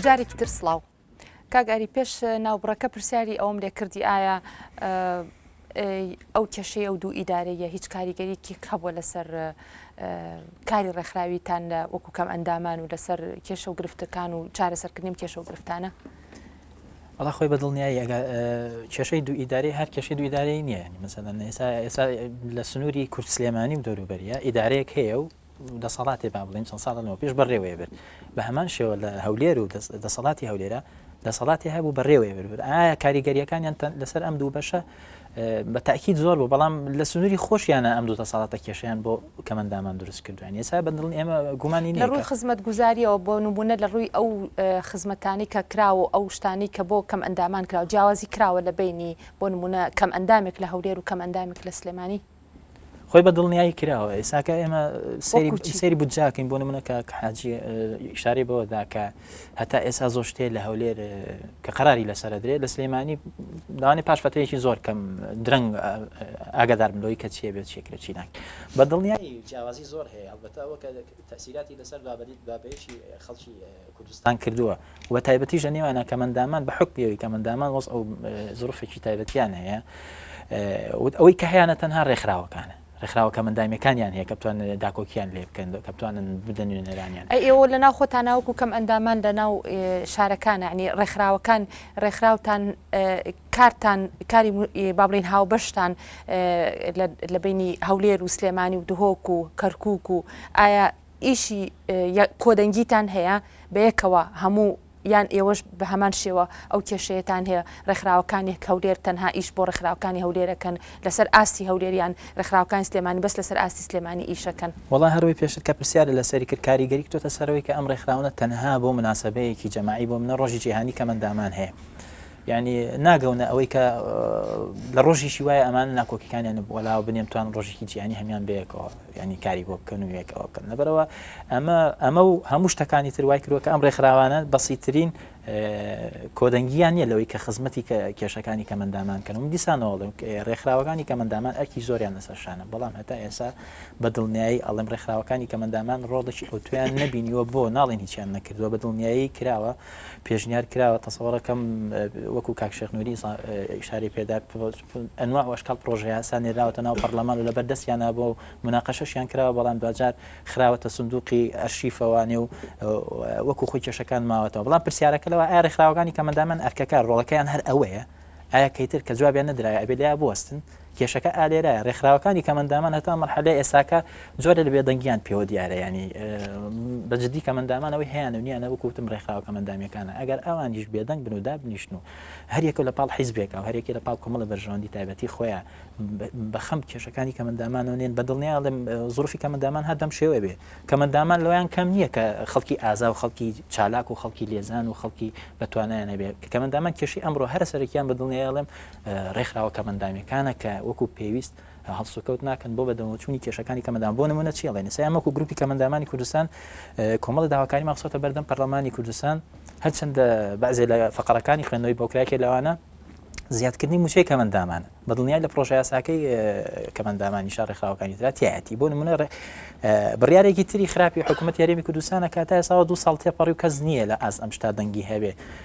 جارێکی تر سلااو کاگاری پێش ناوبڕەکە پرسیاری ئەوم لێکردی ئایا ئەو کێشەی ئەو دوو ئیدارەیە هیچ کاریگەریکی هەبووە لەسەر کاری ڕێکخراویتان لە وەکو کەم ئەندامان و لەسەر کێشە و گرفتەکان و چارەسەرکردنیم کێشە و گرفتانە ئەڵا خۆی بە دڵنیایی ئەگە کێشەی دوو ئیدارەی هەر کێشەی دوو ئیدارەی نییە ینی مەسەدەن ئێستا ئێستا لە سنووری کورد سلێمانی و دەوروبەریە ئیدارەیەک هەیە و دەسەڵاتی با بڵین چەند ساڵەوە پێش بەڕێوەیە برد بە هەمان شێوە لە هەولێر و دەسەڵاتی هەولێرە دەسەڵاتی هەبوو بەڕێوەیە برد ئایا کاریگەریەکانیان لەسەر ئەم دوو بەشە بە تاکیید زۆر بوو بەڵام لە سنووری خۆشیانە ئەم دوو دەسەڵاتە کێشیان بۆ کەمەندامان دروست کردویان ئێستا بەدڵنی ئێمە گومانی لە ڕووی خزمەت گوزاریەوە بۆ نمونە لە ڕووی ئەو خزمەتانی کە کراوە و ئەو شتانی کە بۆ کەمئەندامان کراوە جیاوازی کراوە لە بەینی بۆ نمونە کەمئەندامێک لە هەولێر و کەمئەندامێک لە سلێمانی؟ خۆی بە دڵنیایی کراوە ئێساکە ئێمە سری بودجاکەین بۆ منە کە حاجی شارەی بەوەدا کە هەتا ئێسا زۆر شتێ لە هەولێر کە قراری لەسەر درێت لە سلێمانی داوانی پاش فترێکی زۆر کەم درەنگ ئاگادار بلۆی کە چێ بێت چێکرە چیناک بە دڵنیایی جیاوازی زۆر هەیە هەڵبەتەوە کە تەئسیراتی لەسەر بابەدیت بابەیەکی خەڵکی کوردستان کردووە و بە تایبەتیش لە نێوانە کەمەندامان بە حوکمی ئەوی کەمەندامان وەز ئەو زرفێکی تایبەتیان هەیە وت ئەوەی کە هەیەە تەنها ڕێکخراوەکانە ڕێکخراوە کەمەندامیەکانیان هەیە کە بتوان داکۆکیان لێ بکەن کە بتوانن بدەن نوێنەرانیان ئێوە لە ناو خۆتان ناوکو کەم ئەندامان لە ناو شارەکانە عنی ڕێکخراوەکان ڕێکخراوتان کارتان کاری با بڵێین هاوبەشتان لە بینی هەولێر و سلێمانی و دهۆک و کەرکک و ئایا ئیشی کۆدەنگیتان هەیە بەیەکەوە هەموو یان ئێوەش بە هەمان شێوە ئەو کێشەیەتان هەیە ڕێکخراوەکانی هەولێر تەنها ئیش بۆ ڕێکخراوەکانی هەولێرەکەن لەسەر ئاستی هەولێریان ڕێکخراوەکانی سلێمانی بەس لەسەر ئاستی سلێمانی ئیشەکەن. وەڵا هەروەی پێشتر کە پرسیارت لەسەری کرد کاریگەری کتۆتە سەرەوەی کە ئەم ڕێکخراوانە تەنها بۆ مناسەبەیەکی جەماعی بۆ منە ڕۆژی جیهانی کەمەندامان هەیە یانی ناگەونە ئەوەی کە لە ڕۆژیشی وایە ئەمان ناکۆکیەکانیان بۆلاوە بنێم توان ڕۆژێکی جیانی هەمان بەیەکەوە ینی کاری بۆ بکەن و یەکەوە بکەن لەبەرەوە ئەمە ئەمە و هەموو شتەکانی تروای کرۆکە ئەم ڕێکخراوانە بەسیترین کۆدەنگیان نیە لەوەی کە خزمەتی کە کێشەکانی کەمەندامان کەن و دیسانەوە ڕێکخراوەکانی کەمەندامان ئەرکی زۆریان لەسەر شانە بەڵام هەتا ئێسا بە دڵنیایی ئەڵم ڕێکخراوەکانی کەمەندامان ڕۆڵێکی ئەوتویان نبینیوە بۆ ناڵێن هیچیان نەکردووە بە دڵنیایی کراوە پێشنیار کراوە تەسەوڕەکەم وەکو کاک شێخ نوری ئیشاری پێدا ئەنواع و ئەشکال پرۆژەیاسا نێراوەتە ناو پەرلەمان و لە بەردەستیان نابووە و مناقەشەشیان کراوە بەڵام دواجار خراوەتە سندوقی ئەرشیفەوانێ و وەکو خۆی کێشەکان ماوەتەوە بەڵام پرسیارەکە لەوە ئایا ڕێکخراوەکانی کە مەدامەن ئەرکەکە ڕۆڵەکەیان هەر ئەوەیە ئایا کەیتر کە جوابیان نەدرایە ئەبێ لێیا بوەستن کێشەکە ئالێرایە ڕێکخراوەکانی کەمەندامان هەتا مەرحەلە ئێساکە جۆرە لە بێدەنگیان پێوە دیارە ینی بەجددی کەمەندامانەوەی هیان و نیانە وکوتم ڕێکخراوە کەمەندامیەکانە ئەگەر ئەوانیش بێدەنگ بن و دابنیشن و هەریەکە لە پاڵ حیزبێکە و هەرێکی لە پاڵ کۆمەڵە بەرژەوەندی تایبەتی خۆیان بەخەم کێشەکانی کەمەندامانەوە نێن بەدڵنییا لەم زروفی کەمەندامان هەردەم شێوە بێ کەمەندامان لەویان کەم نییە کە خەڵکی ئازا و خەڵکی چالاک و خەڵکی لێزان و خەڵکی بەتوانایانە بێ کەمەندامان کێشی ئەمڕۆ هەرە سەرەکیان بەدڵنیاڵێم ڕێکخراوە کەمەندامیەکانە کە وەکو پێویست هەڵسوکەوت ناکەن بۆ بەدەمەوەچوونی کێشەکانی کەمەندان بۆ نمونە چی ئەڵێن ئێستا ئێمە وەکو گروپی کەمەندامانی کوردستان کۆمەڵی داواکاریمان خستۆتە بەردەم پەرلەمانی کوردستان هەرچەندە بەعزێ لە فەقەرەکانی خوێندنەوەی بۆکراکێ لەوانە زیادکردنی موچەی کەمەندامانە بە دڵنیای لە پرۆژە یاساکەی کەمەندامانی شار ڕێکخراوەکانی دراتیایەتی بۆ نمونە ڕێ بڕارێکی تری خراپی حکوومەت یاریمی کوردستانە کاتای ساوە دو ساڵ تێپەڕی و کەس نییە لە ئاست ئەم شتا دەنگی هەبێ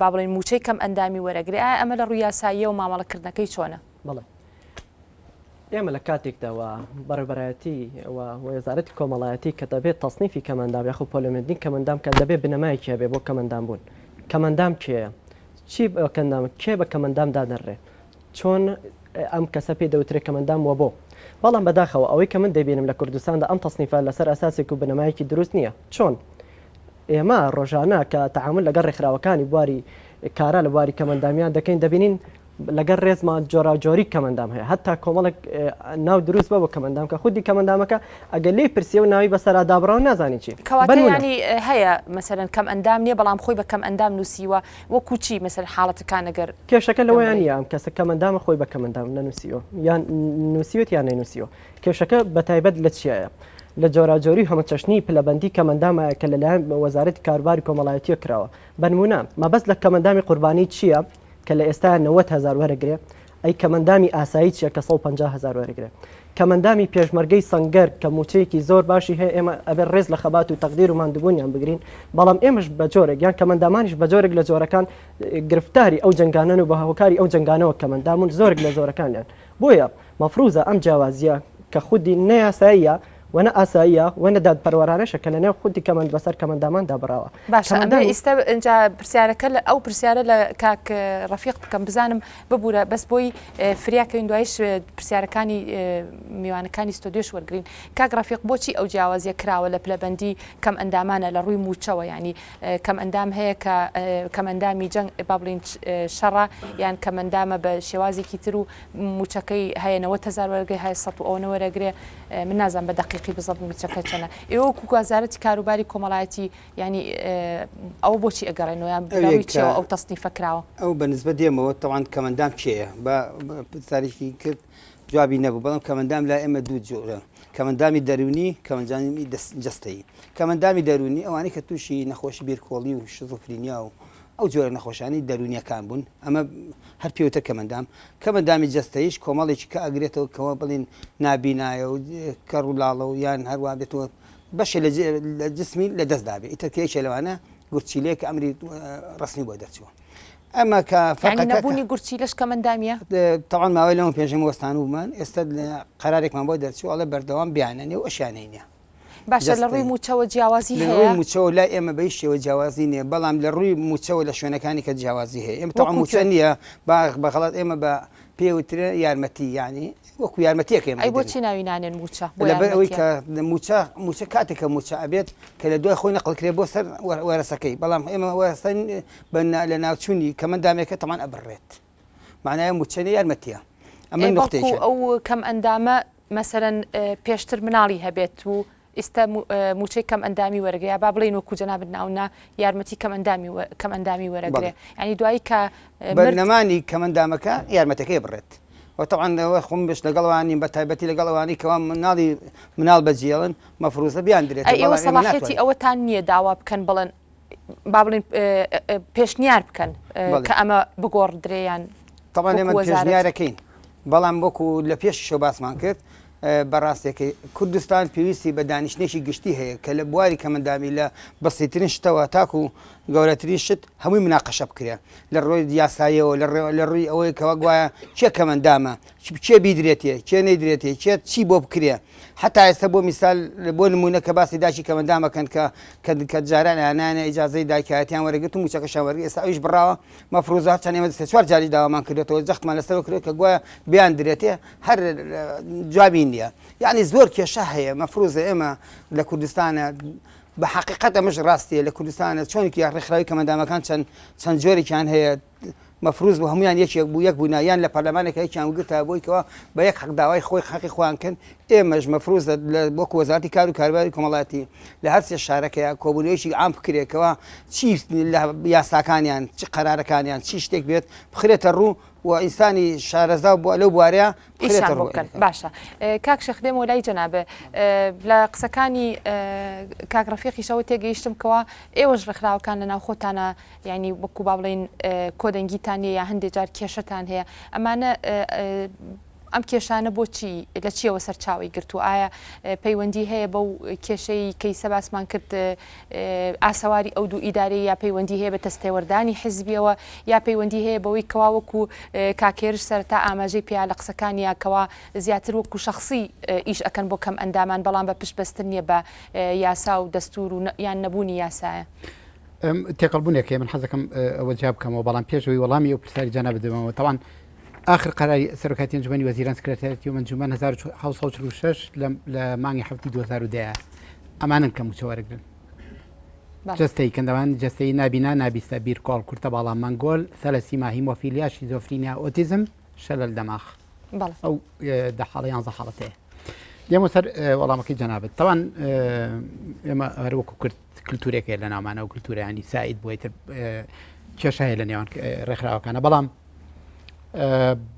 با بڵێین مووچەی کەم ئەندامی وەرەگرێ ئایا ئەمە لە ڕووی یاساییە و مامەڵەکردنەکەی چۆنە؟ بەڵێ. ئێمە لە کاتێکدا و بەڕێبەرایەتی و وەزارەتی کۆمەڵایەتی کە دەبێت تەسنیفی کەمەندام یاخو پۆلۆمێدنی کەمەندام کە دەبێت بنەمایەکی هەبێ بۆ کەمەندام بوون کەمەندام کێیە چی بەکەندام کێ بە کەمەندام دادەڕێ چۆن ئەم کەسە پێ دەوترێت کەمەندام وە بۆ بەڵام بەداخەوە ئەوەی کە من دەبینم لە کوردستاندا ئەم تەسنیفە لەسەر ئەساسێک و بنەمایەکی دروست نییە چۆن ئێمە ڕۆژانە کە تەعامول لەگەڵ ڕێکخراوەکانی بواری کارا لە بواری کەمئەندامیان دەکەین دەبینین لەگەڵ ڕێزمان جۆراوجۆری کەمئەندام هەیە هەتا کۆمەڵێک ناو دروست بە بۆ کەمئەندام کە خودی کەمئەندامەکە ئەگەر لێی پرسیەوە ناوی بەسەرا دابڕاو نازانی چی کەواتە یانی هەیە مەسەلەن کەمئەندام نییە بەڵام خۆی بە کەمئەندام نووسیوە وەکو چی مەسەل حاڵەتەکان ئەگەر کێشەکە لەوەیان یان کەسە کەمئەندامە خۆی بە کەمئەندام نەنووسیوە یان نووسیوێت یان نەینووسیوە کێشەکە بە تایبەت لە چیایە؟ لە جۆراوجۆری و هەمەچەشنی پلەبەندی کەمەندامایە کە لەلایەن وەزارەتی کاروباری کۆمەڵایەتییە کراوە. بە نموونە، مەبەست لە کەمەندامی قوربانی چییە کە لە ئێستایە نەوەد هەزار وەرەگرێ؟ ئەی کەمەندامی ئاسایی چییە کە سەد و پەنجا هەزار وەرەگرێ؟ کەمەندامی پێشمەرگەی سەنگەر کە مووچەیەکی زۆر باشی هەیە، ئێمە ئەبێ ڕێز لە خەبات و تەقدیر و ماندووبوونیان بگرین، بەڵام ئێمەش بە جۆرێک یان کەمەندامانیش بە جۆرێک لە جۆرەکان گرفتاری ئەو جەنگانەن و بە هۆکاری ئەو جەنگانەوە کەمەندامون زۆرێک لە زۆرەکانیان بۆیە مەفروزە ئەم جیاوازییە کە خودی نە یاساییە و نە ئاساییە و نە دادپەروەرانەشە کە لەنێو خودی کەمەند بەسەر کەمەندامان دابڕاوە. باشە ئەمە ئیستە ئنجا پرسیارەکە لە ئەو پرسیارە لە کاک ڕەفیق بکەم بزانم ببورە بەس بۆی فریاکەوین دوایش پرسیارەکانی میوانەکانی ستۆدیۆش وەرگین کاک ڕەفیق بۆچی ئەو جیاوازیە کراوە لە پلەبەندی کەم ئەندامانە لە ڕووی موچەوە ینی کەم ئەندام هەیە کە کەمەندامی جەنگ بابلین شەڕە یان کەمەندامە بە شێوازێکی تر و موچەکەی هەیە نەوەت هەزار وەرەگرێ هەیە سەد و ئەوەنە وەرەگرێ من نازانم بە دەقیقی بزەبت موچەکە چەنە ئێوە وەکو وەزارەتی کاروباری کۆمەڵایەتی یانی ئەوە بۆچی ئەگەڕێنەوە یان بەڕووی چیەوە ئەو تەسنیفە کراوە؟ ئەو بە نسبەت دێمەوە تەوان کەمەندام کێیە بە پرسیارێکی کرد جوابی نەبوو بەڵام کەمەندام لای ئێمە دوو جۆرە کەمەندامی دەروونی کەمەنجامی جەستەیی کەمەندامی دەروونی ئەوانەی کە تووشی نەخۆشی بیرکۆڵی و شیزۆفرینیا و ئەو جۆرە نەخۆشانەی دەروونیەکان بوون ئەمە هەر پێوتە کەمەندام، کەمەندامی جەستەیش کۆمەڵێکی کە ئەگرێتەوە کەوا بڵێن نابینایە و کەڕ و لاڵە و یان هەروا بێت و بەشێ لە جسمی لە دەست دابێ ئیتر کە یەکێ لەوانە گورچیلەیە کە ئەمری ڕەسمی بۆ دەرچووە ئەمە کە یعنی فەقەکە نەبوونی گورچیلەش کەمەندامیە؟ تەوان ماوەی لەمە پێنجەم وەستانوومان ئێستا قەرارێکمان بۆ دەرچوو ئەڵێ بەردەوام بیاننێ و ئەشیانەینە باشە لە ڕووی مووچەوە جیاوازی هەیە؟ لە ڕووی مووچەوە لای ئێمە بە هیچ شێوە جیاوازی نییە، بەڵام لە ڕووی مووچەوە لە شوێنەکانی کە جیاوازی هەیە. ئێمە تەواو مووچە نییە، با بە غەڵەت ئێمە بە پێی وترێ یارمەتی یانی وەکو یارمەتییەک ئێمە ئەی بۆچی ناوی نانێن مووچە؟ لەبەر ئەوەی کە مووچە مووچە کاتێک کە مووچە ئەبێت کە لە دوای خۆی نەقڵ کرێ بۆ سەر وەرەسەکەی، بەڵام ئێمە وەرەسە بە لە ناوچوونی کەمەندامێکە تەمان ئەبڕێت. معنای موچەنە یارمەتیە ئەمە نقطێکە ئەو کەم ئەندامە مەسەرەن پێشتر مناڵی هەبێت و ئیستا موچەی کەم ئەندامی وەرگەیە با بڵین وەکو جەنابت ناونا یارمەتی کەم ئەندامی کەم ئەندامی وەرەگرێ ینی دوایی کە بەرنەمانی کەمەندامەکە یارمەتەکەی بڕێت وتەوانەوە خۆم بش لەگەڵوانی بە تایبەتی لەگەڵوانی کەوا مناڵی مناڵ بەجیێڵن مەفروزە بیان درێت ئەوەسەڵاحەتی ئەوەتان نییە داوا بکەن بڵن با بڵین پێشنیار بکەن کە ئەمە بگۆڕدرێیان تەڵان ئێمە پێشنیارەکەین بەڵام وەکو لە پێش شە باسمان کرد بەڕاستێکی کوردستان پێویستی بە دانیشتێکی گشتی هەیە کە لە بواری کەمەندامی لە بەسیترین شتەوە تاکو و گەورەترین شت هەمووی مناقەشە بکرێن لە ڕۆی یاسایەوە لە ڕێوە لە ڕووی ئەوەی کەەوە گوایە چێ کەمەندامە کێ بیدرێتێ کێ نەیدرێتێ کێ چی بۆ بکرێ حتا ئێستا بۆ میسال بۆ نمونە کە باسی داکی کەمەندامەکەن کە کە کە جاران ئەیانانە ئیجازەی داکایەتیان وەرەگرتم و چەکەشان وەرگ ئێستا ئەویش بڕاوە مەفروزە هەرچەند ئێمە دەستێ چوار جاری داوامان کردێتەوە جەختمان لەسەر کرێت کە گوایە بیان درێتێ هەر جوابی نییە یعنی زۆر کێشە هەیە مەفروزە ئێمە لە کوردستانە بە حقیقەت ئەمەش ڕاستیە لە کوردستانە چۆنکی ڕێکخراوی کەمەندامەکان چەند چەند جۆرێکیان هەیە مەفروز بوو هەموویان یەکێک بوو یەک بوونا یان لە پەرلەمانێکا یەکیان وگرتایە بۆی کەوا بە یەک حەق داوای خۆی حەقی خۆیان کرد ئێمەش مەفروز لە وەکو وەزارەتی کار و کارباری کۆمەڵایەتی لە هەر سێ شارەکەیە کۆبوونەوەیەکی عام بکرێتەوە چی لە یاساکانیان چ قەرارەکانیان چی شتێک بێت بخرێتە ڕوو و ئینسانی شارەزا و بووە لەو بوارەیە بخرێتە ئیشان بۆ ڕوو بکەن باشە ئێ، کاک شێخ دێم و لای جەنابێ ئێ، لە قسەکانی ئێ، کاک ڕەفیقیشەوە تێگەیشتم کەوا ئێوەش ڕێکخراوەکان لە ناوخۆتانە یانی وەکو با بڵێین کۆدەنگیتان نیە یا هەندێ جار کێشەتان هەیە ئەمانە ئەم کێشانە بۆچی لە چیەوە سەرچاوی گرت و ئایا پەیوەندی هەیە بەو کێشەی کەی سەباسمان کرد ئاسەواری ئەو دوو ئیداری یا پەیوەندی هەیە بە تەستێوەردانی حزبیەوە یا پەیوەندی هەیە بەوەی کەوا وەکو کاکێرش سەرتا ئاماژەی پیا لە قسەکان یاکەوە زیاتر وەکو شخصی ئیش ئەەکەن بۆ کەم ئەندامان بەڵام بە پشت بەستن نیە بە یاسا و دەستور و یان نەبوونی یاسایە. تێکەڵبوونێک هەیە من حەز دەکەم ئەوە جواب بکەمەوە بەڵام پێشەوەی وەڵامی ئەو پرسیاری جانا بدەمەوە تەوان آخر قەراری سەرۆکایەتی ئەنجومەنی وەزیران سکرتێرەتی و ئەنجومەن 1946 لە مانگی هەفتی 2010 ئەمانن کە موچە وەرەگرن جستەی کەندەوان جستەی نابینا نابیستە بیرکۆڵ کورتە باڵا مەنگۆل سەلەسی ماهیم وەفیلیا شیزۆفرینیا ئۆتیزم شەلل دەماخ ئەو دە حاڵە یان زە حاڵەتەیە دێمە سەر وەڵامەکەی جەنابێت تاوان ئێمە هەروەکو کرد کلتورێک هەیە لە ناومانە و کلتورانی سعید بۆی تر کێشە هەیە لە نێوان ڕێکخراوەکانە بەڵام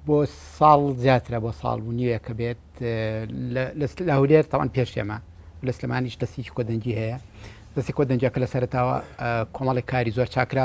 بۆ ساڵ زیاترە بۆ ساڵ و نیوێک کە بێت لە هولێر تاوان پێشێمە لە سلمانیش دەستی کۆدەنجی هەیە دەستی کۆدەنجەکە لە سەرتاوە کۆمەڵی کاری زۆر چاکرا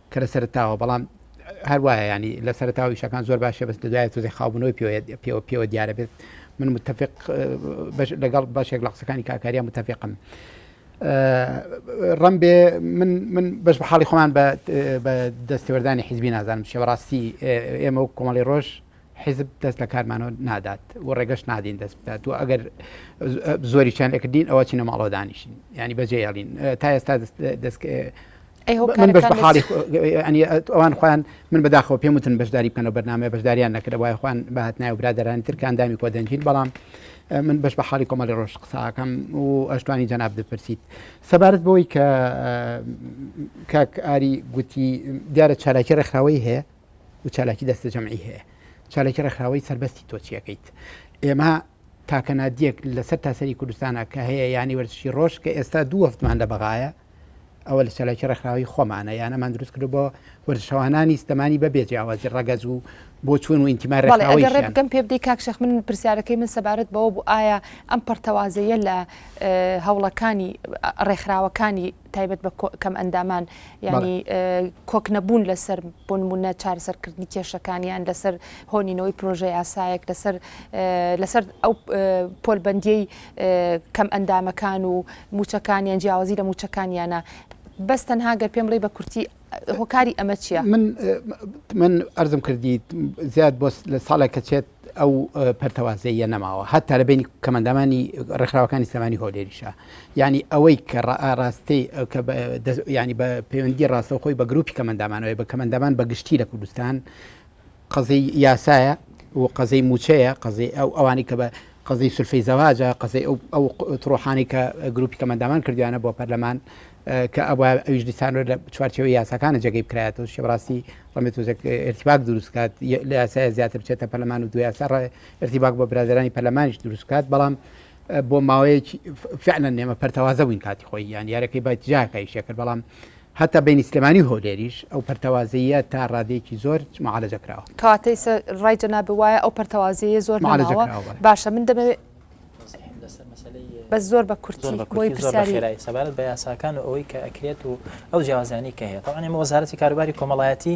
کە لە سەرەتاوە بەڵام هەر وایە یانی لە سەرەتاوە ئیشەکان زۆر باشە بەس لە دوایە تۆزێ خاوبوونەوەی پێوە پێوە پێوە دیارە بێت من متفق لەگەڵ بەشێک لە قسەکانی کاکاریان متفقم ڕم بێ من من بەش بە حاڵی خۆمان بە دەستێوەردانی حیزبی نازانم شێوەڕاستی ئێمە و کۆمەڵی ڕۆژ حیزب دەست لە کارمانەوە نادات و ڕێگەش نادین دەست بدات و ئەگەر زۆری چیان لەکردین ئەوە چینە ماڵەوە دانیشین ینی بەجێ یاڵین تا ئێستا دەست من بەش بەحاڵی ئەوان خۆیان من بەداخۆ پێم وتن بەشداری بکەنەوە بەنامەیە بەشداریان نەکرد وای خۆیان بەهات نایە و برادرانی ترکاندامی کۆ دەنجین بەڵام من بەش بە حاڵی کۆمەڵی ڕۆژ قساکەم و ئەشتوانی جەناب دەپرسیت سەبارەت بۆی کە کاک ئاری گوتی دیارە چالاکی ڕێکخراوەی هەیە و چالاکی دەستە جەمعی هەیە چالاکی ڕێکخراوەی سربەستی تۆچیەکەیت ئێمە تاکەنادیەک لەسەر تاسەری کوردستانە کە هەیە ینی وەرزشی ڕۆژ کە ئێستا دوو هەفتمان لە بەغاایە ئەوە لە چالاکی ڕێکخراوی خۆمانە یان ئەمان دروست کرد بۆ وەرزشەوانانی ستەمانی بەبێ جیاوازی ڕەگەز و بۆ چون و ئینتیما بەڵێ ئەگەر ڕێکخراوەیشیان ڕێبکەم پێ بدەی کاک شێخ من پرسیارەکەی من سەبارەت بەوە بوو ئایا ئەم پەرتەوازەیە لە ئه، هەوڵەکانی ئه، ڕێکخراوەکانی تایبەت بە کۆ- کەم ئەندامان یانی ئه، کۆک نەبوون لەسەر بۆ نمونە چارەسەرکردنی کێشەکانیان لەسەر هۆنینەوەی پرۆژە یاسایەک لەسەر ئه، لەسەر ئەو ئه، پۆلبەندیەی کەمئەندامەکان و موچەکانیان جیاوازی لە موچەکانیانە بەس تەنها گەر پێم بڵێی بە کورتی هۆکاری ئەمە چیە؟ من من ئەرزم کردیت زیاد بۆ لە ساڵێک کە چێت ئەو پەرتەوازەیە نەماوە هەتا لە بینی کەمەندامانی ڕێکخراوەکانی سلمانی هۆلێریشە ینی ئەوەی کە ڕاستی ینی بە پەیوەندی ڕاستەوخۆی بە گروپی کەمەندامانەوەی بە کەمەندامان بە گشتی لە کوردستان قەزیی یاسایە و قەزیی مووچەیە، قەزیی ئەو ئەوانەی کە بە قەزیی سولفەی زەواجە، قەزیی ئەو ئەو تڕۆحانەی کە گرووپی کەمەندامان کردوویانە بۆ پەرلەمان کە ئەبوایە ئەویش دیسان لە چوارچێوەی یاساکانە جێگەی بکرایەتەوە، شتێ بەڕاستی ڕەنگە تووزێک ئیرتیباک دروست بکات، لە یاسایە زیاتر بچێتە پەرلەمان و دوو یاسا ڕەنگە ئیرتیباک بۆ برادەرانی پەرلەمانیش دروست بکات، بەڵام بۆ ماوەیەکی فعلەن ئێمە پەرتەوازە بووین کاتی خۆی یان یارەکەی بە جاکای شێکرد بەڵام هەتا بینی سلێمانی هۆلێریش ئەو پەرتەوازەیە تا ڕادێکی زۆر معالەجە کراوە کاتەی ڕای جەناب وایە ئەو پەرتەوازەیە زۆر ماڵەوە باشە من دەمەوێت بە زۆر بە کورتی بۆی پرسیاری سەبارەت بە یاساکان و ئەوەی کە ئەکرێت و ئەو جیازانی کە هەیە تاوانێمە وەزارەتی کاروباری کۆمەڵایەتی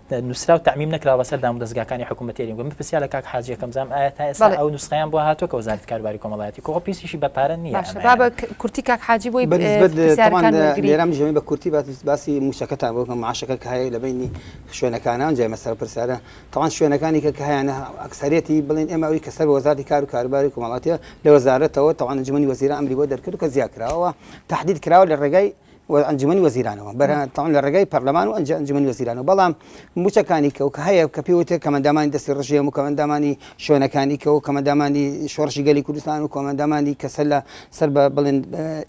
نوسراو تەعمیم نەکراوە بەسەر دامودەزگاکانی حکومەت هەرێم گوم بپرسیا لە کاک حاجی یەکەم جام ئایا تا ئێستا ئەو نوسخەیان بۆ هاتووە کە وەزارەتی کاروباری کۆمەڵایەتی کۆ پیسیشی بە پارە نییە باشە با بە کورتی کاک حاجی بۆی بەنسبەت پرسیارەکان وەرگری. لێرە مژەوی بە کورتی باس باسی مووچەکەتان بۆ کە معاشەکە کە هەیە لە بینی شوێنەکانە ئەنجای مەسەرە پرسیارە تەوان شوێنەکانی کە کە هەیانە ئەکسەرێتی بڵێن ئێمە ئەوی کە سەر بە وەزارەتی کار و کاروباری کۆمەڵاتیە لە وەزارەتەوە تەوان ئەنجومەنی وەزیران ئەمری بۆ دەرکرد و کە زیا کراوە تهدید کراوە لە ڕێگای و ئەنجومەنی وەزیرانەوە بەرە تاوان لە ڕێگای پەرلەمان و ئەنج ئەنجومەنی وەزیرانەوە بەڵام موچەکانی کە و کە هەیە کە پێوتێ کەمەندامانی دەستی ڕژێم و کەمەندامانی شوێنەکانی کە و کەمەندامانی شۆڕشی گەلی کوردستان و کۆمەندامانی کەسە لە سەر بە بڵێن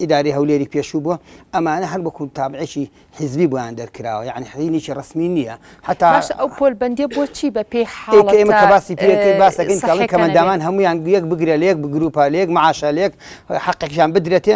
ئیداری هەولێری پێشوو بووە ئەمانە هەر وەکو تابعێکی حیزبی بۆیان دەرکراوە یعنی حینێکی ڕسمی نییە حتا باش ئەو پۆل بەندێ بۆچی بە پێی حاڵ ئێمە کە باسی پێەکەی باسەکەین کەڵی کەمەندامان هەمویان گویەک بگرە لەیەک بگروپە لەیەک معاشە لێک حقێکیان بدرێتێ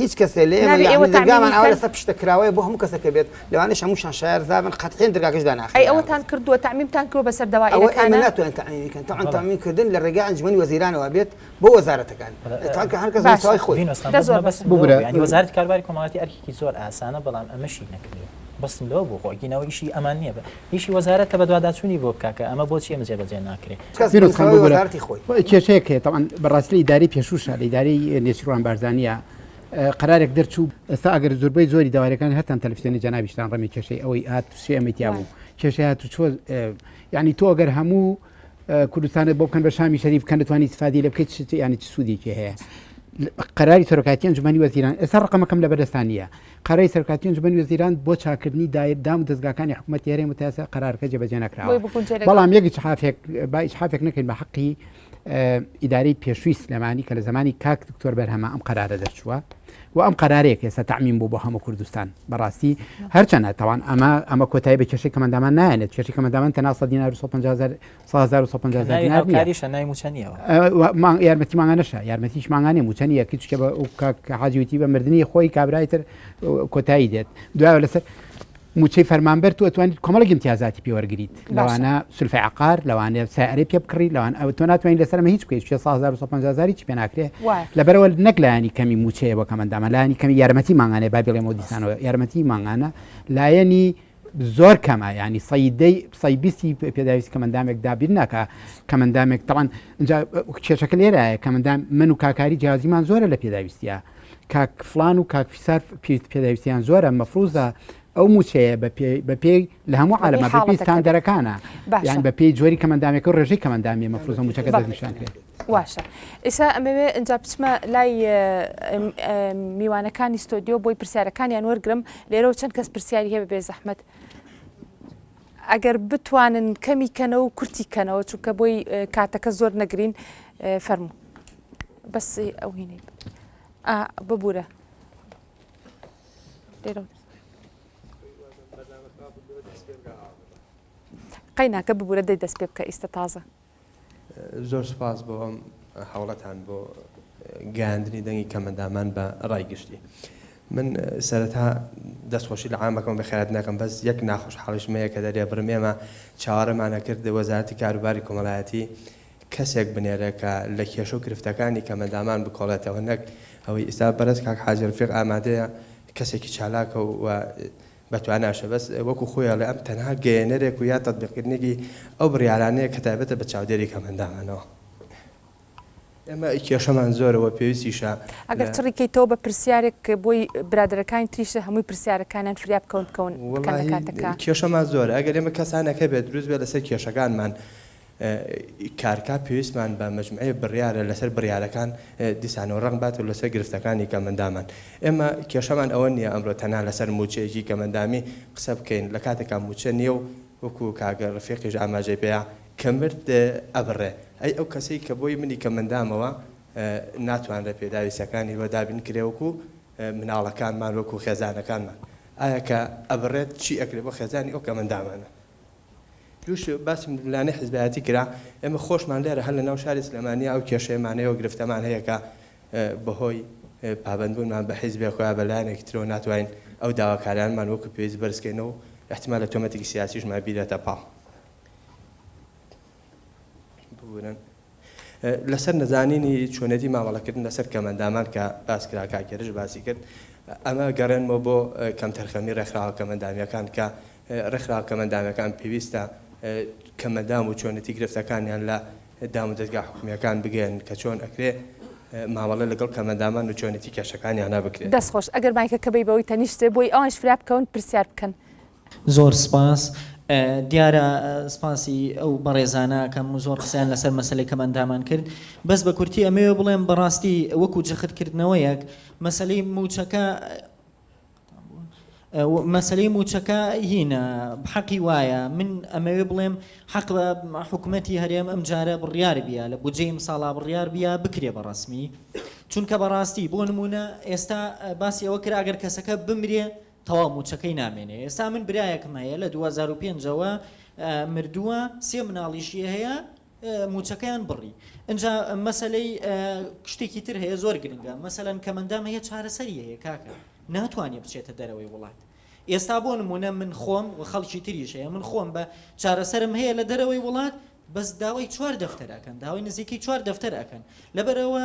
هیچ کەسێ لێ نابێ ئێوە دەرگامان ئەوە لەسەر پشتە کراوەیە بۆ هەموو کەسەکە بێت لەوانەش هەمووشان شار زابن قەتحێن دەرگاکەش داناخن ئەی ئەوەتان کردووە تەعمیمتان کردووە بەسەر دەوائرەکان ئەوە ناتوانن تەعمیمی کەن تەعن تەعمیم کردن لە ڕێگای ئەنجومەنی وەزیرانەوە بێت بۆ وەزارەتەکان تاکە هەر کەس مستەوای خۆی بگرە یانی وەزارەتی کارباری کۆمەڵایەتی ئەرکێکی زۆر ئاسانە بەڵام ئەمەشی نەکرێ بەسم لەوە بۆ خۆ ئەگینەوە ئیشی ئەمان نییە ئیشی وەزارەتە بەدواداچونی بۆ بکا کە ئەمە بۆچی ئەمە جێبەجێ ناکرێ. کەس بە نوسراوی وەزارەتی خۆی. بەرو کێشەیەک هەیە تەبعەن بەڕاستی لە ئیدارەی پێشووشا لە ئیدارەی نێچیروان بارزانیا قەرارێک دەرچوو ئێستا ئەگەر زوربەی زۆری دەوارەکانی هەرتان تەلفزیۆنی جەنابیشتان ڕەمی کێشەی ئەوەی ئات سێ ئەمەی تیابوو کێشەی هاتو چۆ یانی تۆ ئەگەر هەموو کوردستانت بۆ بکەن بە شامی شەریف بکەن دەتوانانی استفادی لە بکەیت چ ینی چ سوودێکی هەیە قەراری سەرۆکاتی ئەنجومەنی وەزیران ئێستا ڕقمەکەم لە بەدەستانە قەرەی سەرکاتی ئەنجومەنی وەزیران بۆ چاکردنی دایر دام و دەستگاکانی حکوومەت هێرێ متاسە قەرارکە جێبەجێ نکراوە بەڵام یەکی حافێک باش حافێک نەکەین بە حەقی ئیداری پێشوی سلێمانی کە لە زمانی کاک دکتۆر بەرهەمە ئەم قەرارە دەرچووە وە ئەم قەرارەیە کە ئێستا تەعمیم بوو بۆ هەموو کوردستان بەڕاستی هەرچەنە تاوان ئەمە ئەمە کۆتایی بە کێشەی کەمەندامان نایەنێت کێشی کەمەندامان تەنها سە دینار و 1500 یارمەتی ماگانەشە یارمەتیش ماگانێ موچەنی یەکی چکە بە حاجوتی بە مردنی خۆی کابرای تر کۆتایی دێت دوای لەسەر موچەی فەرمانبەر تۆ ئەتوانیت کۆمەڵێک ئیمتیازاتی پێ وەرگریت باشە. لەوانە سولفەی عەقار لەوانەیە سیارەی پێ بکڕی لەوان ئەو تۆ ناتوانین لەسەر ئەمە هیچ بکەیت 650 هیچ پێ ناکرێ وایە. لەبەرەوە نەک لایەنی کەمی موچەیە بۆ کەمەندامە لایەنی کەمی یارمەتی مانگانەیە با بڵێم و دیسانەوە یارمەتی مانگانە لایەنی زۆر کەمە ینی سەیدەی سەی بیستی پێداویست کەمەندامێک دابیر ناکە کەمەندامێک تەوان اینجا کێشەکە لێرایە کەمەندام من و کاکاری جیازیمان زۆرە لە پێداویستە کاک فلان و کاک فیسار پێویست پێداویستیان زۆرە مەفروزە ئەو موچەیە بە پێی لە هەموو عالەمە پێستان دەرەکانە یان بە پێی جۆری کەمەندامێک و ڕێژەی کەمەندامی مەفروزە موچەکە دەشان کرێت واشە ئێسا ئەمەوێ ئەجا بچمە لای میوانەکانی ستۆدیۆ بۆی پرسیارەکانیان وەرگرم لێرەوە چەند کەس پرسیاری هەیە بێ زەحمت ئەگەر بتوانن کەمی کەنەوە و کورتی کەنەوە چونکە بۆی کاتەکە زۆر نەگرین فەرموو بەس ئەو هینەی ببوورە لێرە قەیناکە ببوورە دەی دەست پێ بکە ئیستا تازە زۆر سپاس بۆ ئەم حوڵەتان بۆ گەاندنی دەنگی کەمەندامان بە ڕای گشتی. من سەرەتا دەستخۆشی لە عامەکەم بەخێرات ناکەم بەس یەک ناخۆش حاڵیشمەیە کە دەرێ بڕم ئێمە چاوەڕێمانە کرد وەزارەتی کاروباری کۆمەلایەتی کەسێک بنێرە کە لە کێشە و گرفتەکانی کەمەندامان بکۆڵێتەوە نەک ئەوەی ئیستا بەڕێز کاک حاجی ڕەفیق ئامادەیە کەسێکی چالاکە و بە تواناشە بەس وەکو خۆی ئەڵێ ئەم تەنها گەیەنەرێک و یا تەتبیقکردنێکی ئەو بڕیارانەیە کە تایبەتە بە چاودێری کەمەندامانەوە ئێمە کێشەمان زۆرە وە پێویستیشە ئەگەر چڕی کەیتەوە بە پرسیارێک بۆی برادەرەکانی تریشە هەمووی پرسیارەکانیان فریا بکەون بکەون بکەن لە کاتەکە. کێشەمان زۆرە ئەگەر ئێمە کەسانەکە بێت دروست بێت لەسەر کێشەکانمان ی کارکا پێویستمان بە مەجموعەیەک بڕیارە لەسەر بڕیارەکان دیسانەوە ڕەنگ بات و لەسەر گرفتەکانی کەمەندامان ئێمە کێشەمان ئەوە نییە ئەمڕۆ تەنها لەسەر مووچەیەکی کەمەندامی قسە بکەین لە کاتێکا مووچە نییە و وەکو کاک ڕەفیقیش ئاماژەی پێیە کە مرد ئەبڕێ ئەی ئەو کەسەی کە بۆی منی کەمەندامەوە ناتوانرێ پێداویستەکانی وە دابین کرێ وەکو مناڵەکانمان وەکو خێزانەکانمان ئایا کە ئەبڕێت چی ئەکرێ بۆ خێزانی ئەو کەمەندامانە دوو شت باسی ململانێی حیزبایەتی کرا، ئێمە خۆشمان لێرە هەر لەناو شاری سلێمانییە ئەو کێشەیەمان هەیە و گرفتەمان هەیە کە بەهۆی پابەندبوونمان بە حیزبێک و یا بە لایەنێکی ترەوە ناتوانین ئەو داواکاریانەمان وەکو پێویست بەرزکەینەوە و ئیحتیمالە تۆمەتێکی سیاسیشمان بیرێتە پاڵ. ببورن لەسەر نەزانینی چۆنێتی مامەڵەکردن لەسەر کەمەندامان کە باسکرا کاکێرش باسی کرد ئەمە گەڕێنمەوە بۆ کەم تەرخەمی ڕێکخراوە کەمەندامیەکان کە ڕێکخراوە کەمەندامەکان پێویستە کەمەدام و چۆنێتی گرفتەکانیان لە دام و دەستگا حکومیەکان بگەن کە چۆن ئەکرێ مامەڵە لەگەڵ کەمەندامان و چۆنێتی کێشەکانیانە بکرێت دەستخۆش ئەگەر مایکەکە بی بەوەی تەنیشتێ بۆی ئەوانش فرا بکەون پرسیار بکەن زۆر سپاس. دیارە سپاسی ئەو بەڕێزانە ئەکەم و زۆر قسەیان لەسەر مەسەلەی کەمئەندامان کرد. بەس بە کورتی ئەمەوێ بڵێم بەڕاستی وەکو جەخت کردنەوەیەک مەسەلەی مووچەکە مەسەلەی مووچەکە هینە حەقی وایە من ئەمەوێ بڵێم حەق بە حکوومەتی هەرێم ئەم جارە بڕیار بیە لە بودجەی ئیمساڵا بڕیار بیە بکرێ بە ڕەسمی چونکە بەڕاستی بۆ نمونە ئێستا باسی ئەوە کرا گەر کەسەکە بمرێ تەواو موچەکەی نامێنێ ئێستا من برایەکم هەیە لە دوو هەزار و پێنج ەوە مردووە سێ مناڵیشی هەیە موچەکەیان بڕی ئەجا مەسلەی شتێکی تر هەیە زۆر گرنگە مەسەەن کەمەندام هەیە چارەسەری هەیە کاکە ناتوانێت بچێتە دەرەوەی وڵات ئێستا بۆ نمونە من خۆم و خەڵکی تریش هەیە من خۆم بە چارەسرم هەیە لە دەرەوەی وڵات بەس داوای چوار دەفتەر ئەکەن داوای نزیکەی چوار دەفتەر ئەکەن لەبەرئەوە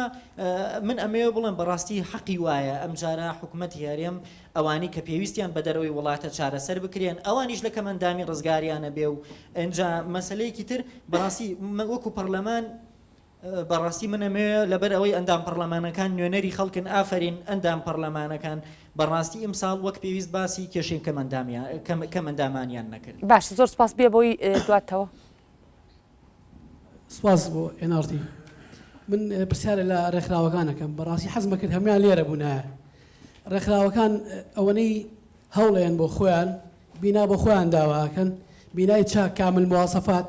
من ئەمەوێ بڵێم بەڕاستی حەقی وایە ئەمجارە حکومەت هەرێم ئەوانی کە پێویستیان بە دەرەوەی وڵاتە چارەسەر بکرێن ئەوانیش لە کەمەندامی ڕزگاریانە بێ و ئەنجا مەسلەیەکی تر بەڕاستی وەکو پەرلەمان بەڕاستی من ئەمەوێ لەبەر ئەوەی ئەندام پەڕلەمانەکان نوێنەری خەڵکن ئافەرین ئەندام پەڕلەمانەکان بەڕاستی ئیمساڵ وەک پێویست باسی کێشەی کەم ئەندامیان کەم کەم ئەندامانیان نەکرد. باشە زۆر سوپاس بێ بۆی دواتەوە. سوپاس بۆ ئێن ئاڕ تی من پرسیارێ لە ڕێکخراوەکان ئەکەم بەڕاستی حەزمەکرد هەموان لێرە بوونایە ڕێکخراوەکان ئەوەنەی هەوڵێن بۆ خۆیان بینا بۆ خۆیان داوا ئەکەن بینای چاک کامل مواصفات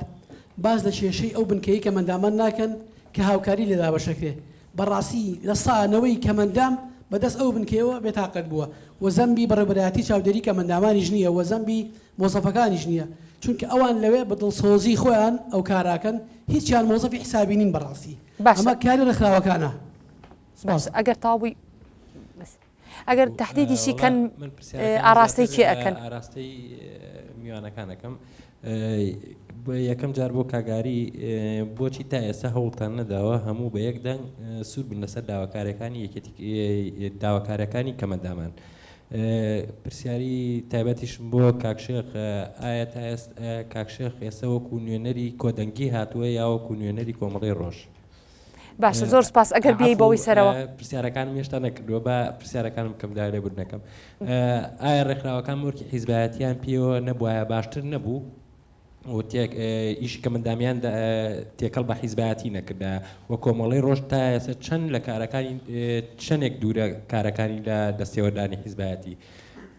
باس لە کێشەی ئەو بنکەی کەمەندامان ناکەن کە هاوکاری لێ دابەشەکرێ بەڕاستی لە سا نەوەی کەمەندام بە دەست ئەو بنکەیەوە بێ تاقەت بووە و زەمبی بەڕێوبەرایەتی چاودێری کەمەندامانیش نییە و زەمبی مۆزەفەکانیش نییە چونکە ئەوان لەوێ بە دڵسۆزی خۆیان ئەو کاراکەن هیچیان مۆزەفی حسابی نین بەڕاستی ئەمە کاری ڕێکخراوەکانە سپاس. باشە ئەگەر تاوبووی بەس. ئەگەر تەحدیدیشی کەن ئاڕاستەی کێ ئەکەن؟ وەڵا من پرسیارەکەم زیاتر ئاراستەی میوانەکان ئەکەم بۆیە یەکەم جار بۆ کاگاری بۆچی تا ئێستا هەوڵتان نەداوە هەموو بە یەک دەنگ سوور بن لەسەر داواکاریەکانی یەکێتی داواکاریەکانی کەمەندامان پرسیاری تایبەتیشم بۆ کاک شێخ ئایا تا ئێستا کاک شێخ ئێستا وەکو نوێنەری کۆدەنگی هاتووە یا وەکو نوێنەری کۆمەڵی ڕۆژ؟ باشە زۆر سپاس ئەگەر بێی بەوەی سەرەوە پرسیارەکانم هێشتا نەکردووە بە پرسیارەکانم بکەم دا لێبور نەکەم ئایا ڕێکخراوەکان مۆرکی حیزبایەتیان پێوە نەبواە باشتر نەبوو ئیشی کە مندامیان تێکەڵ بە حیزبایەتی نەکردا و کۆمەڵی ڕۆژ تا ئێستا چەند لە کارەکانی چەندێک دوورە کارەکانی لە دەستێوەدانی حیزبایەتی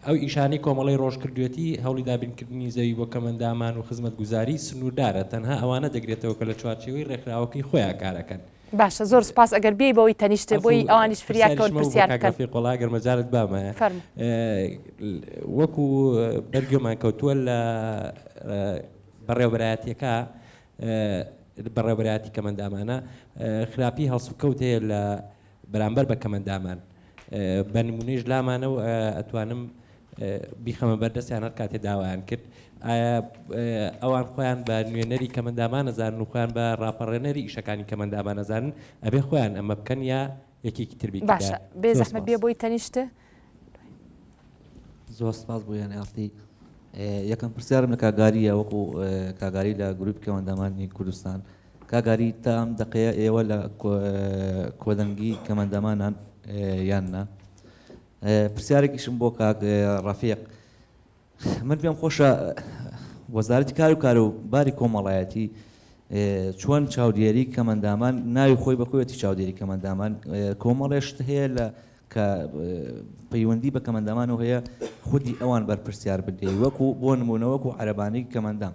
ئەو ئیشانەی کۆمەڵەی ڕۆژ کردوویەتی، هەوڵی دابینکردنی زەوی بۆ کەمئەندامان و خزمەتگوزاری، سنووردارە، تەنها ئەوانە دەگرێتەوە کە لە چوارچێوەی ڕێکخراوەکەی خۆیان کار ئەکەن. باشە زۆر سوپاس ئەگەر بیێی بەوەی تەنیشت بۆی ئەوانیش فریاکەون پرسیار بکەن. پرسیاریشم هەبوو بۆ کاک ڕەفیق وەڵا ئەگەر مەجالت بامایە. فەرموو. وەکو بەر گوێمان کەوتووە لە بەڕێوەبەرایەتیەکە بەڕێوەبەرایەتی کەمەندامانە خراپی هەڵسوکەوت هەیە لە بەرامبەر بە کەمەندامان بە نمونەیش لامانە و ئەتوانم بیخەمە بەردەستیان هەر کاتێ داوایان کرد ئایا ئەوان خۆیان بە نوێنەری کەمەندامانەزانن و خۆیان بە ڕاپەڕێنەری ئیشەکانی کەمەندامانەزانن ئەبێ خۆیان ئەمە بکەن یا یەکێکی تربی باشە بێ زەحمە بێ بۆی تەنیشت زۆر سپاس بۆ یان ئاستی یەکەم پرسیارم لە کاگاریە وەکو کاگاری لە گروپ کەوەندەمانی کوردستان کاک ئاری تا ئەم دەقەیە ئێوە لە کۆدەنگی کەمەندەمانان یان نا؟ پرسیارێکیشم بۆ کاک ڕەفیق من پێم خۆشە وەزارەتی کار و کار و باری کۆمەڵایەتی چۆن چاودێری کەمەندامان ناوی خۆی بەخۆیەتی چاودێری کەمەندامان کۆمەڵێشت هەیە لە کە پەیوەندی بە کەمەندامانەوە هەیە خودی ئەوان بەرپرسیار بدەی وەکو بۆ نمونەوەکو عەربانی کەمەندام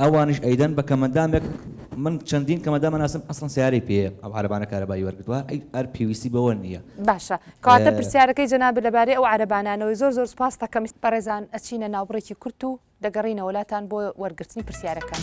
ئەوانیش ئەیدەن بە کەمەندامێک من چەندین کەمەدا مەناسم ئەسڵن سیارەی پێ ئەو عربانە کارەبایی وەرگتووە ئەی ئەر پێویستی بەوە نییە باشە کاتە پرسیارەکەی جەناب لەبارەی ئەو عربانانەوەی زۆر زۆر سپاس دەکەم. بەڕێزان ئەچینە ناوبڕێکی کورت و دەگەڕینەوە لاتان بۆ وەرگرتنی پرسیارەکان.